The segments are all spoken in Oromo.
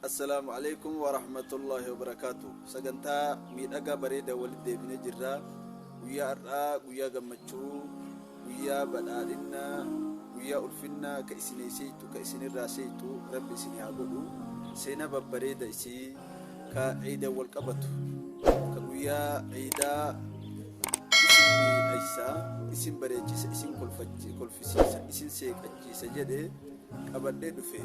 Assalaamu alaikum wa rahmatullahi wa barakaatu. Sagantaa miidhagaa bareeda walitti deebinee jirra. Guyyaa har'aa guyyaa gammachuu, guyyaa badhaadhinna, guyyaa ulfinna ka isin seeytu ka isin irraa seeytu rabbi isin haa godhu. Seenaa babbareeda isii ka ciidan wal qabatu ka guyyaa ciidaa isin miidhaysa, isin bareechisa, isin kolfisiisa, isin seeqachiisa jedhe qabadhee dhufe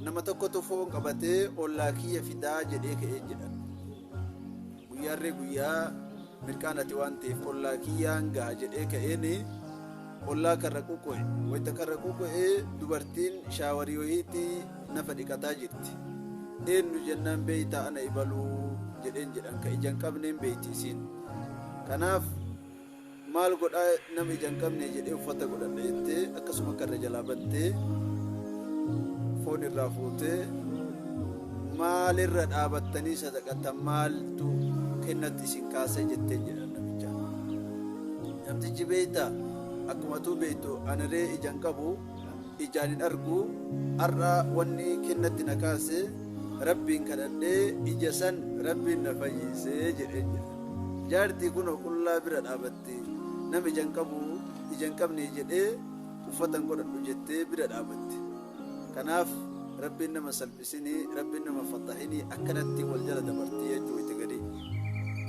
nama tokkotu foon qabatee ollaa kiyya fidaa jedhee ka'ee jedha guyyaarree guyyaa mirqaan ati waan ta'eef ollaa kiyyaan ga'a jedhee ka'een ollaa karra quqo'e wayita karra quqo'e dubartiin shaawarii wayiitti nafa dhiqataa jirti eenyu jennaan beeytaa ana ibaluu jedheen jedhan ka ijaan qabneen beeyti isiin kanaaf Maal godhaa nama ija hin qabnee jedhee uffata godhadha jettee akkasuma akka irra jalaa battee foon irraa fuutee maal irra dhaabattanii sadaqatan maaltu kennatti isin kaasee jetteen jedhan namicha. Namtichi beekta akkuma tuu beektu aniree ija hin qabu ijaan hin argu har'a wanni kennatti na kaase rabbiin kadhadhee ija san rabbiin na fayyiise jedhee jira jaartii kunoo qullaa bira dhaabatti nam ijan qabu ijan qabnii jedhee uffatan godhadhu jettee bira dhaabatti kanaaf rabbiin nama salphisinii rabbiin nama fattahinii akkanatti wal jala dabartii jechuu itti gadii